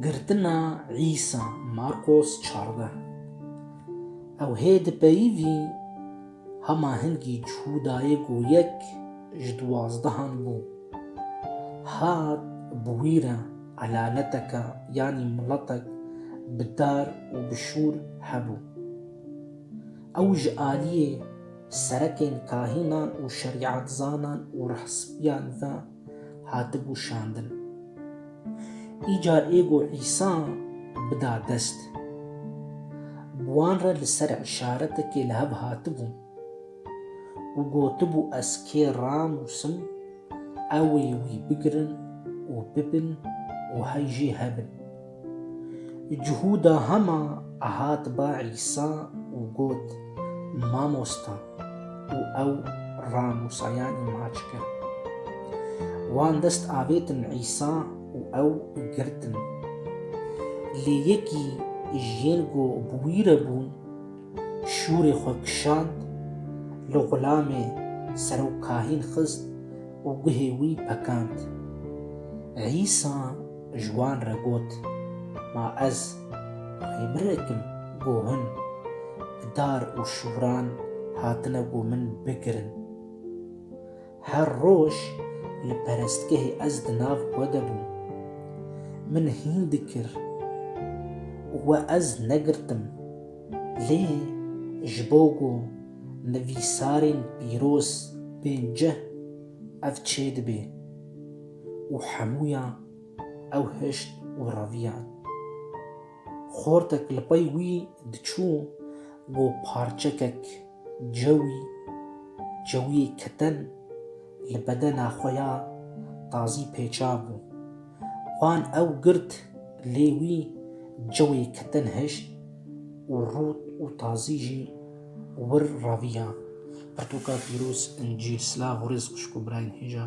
Girtina Îsa Marqos çardeh Ew hê di peyivî hema hingî Cûdayê ku yek ji duwazdehan bû, hat bi wî re elaleteke yanî miletek bi dar û bi şûr hebû. Ew ji aliyê Serekên kahînan û şerîetzanan û rehsbiyan ve hatibû şandin. Îcar ê ku Îsa bida dest, bi wan re li ser îşaretekê li hev hatibû û gotibû ez kê ranûsim ew ê wî bigirin û bibin û hey jî hebin. Cuhûda hema hat ba Îsa û got, Mamosta û ew ra Mûsayanî maç kir. Wan dest avêtin Îsa û ew girtin. Lê yekî jiyên ku bi wî re bûn şûrê xwe kişand, li xulamê serokahîn xist û guhê wî pekand. Îsa Ji wan re got, Ma ez rêbirekim ku hûn bi dar û şûran hatine ku min bigirin. Her roj li perestgehê ez di nav xwe de bûm. Min hîn dikir û we ez negirtim. Lê ji bo ku nivîsarên pîroz bên cih, ev çêdibê. û hemûyan ew hişt û reviyan. Xortek li pey wî diçû ku parçekek cewî, cewiyê keten li bedena xwe ya tazî pêçabû. Wan ew girt lê wî cewê keten hişt û rût û tazî jî wir reviyan. Pirtûka pîroz, incîl, silav û rêz xwişk û birayên hêja.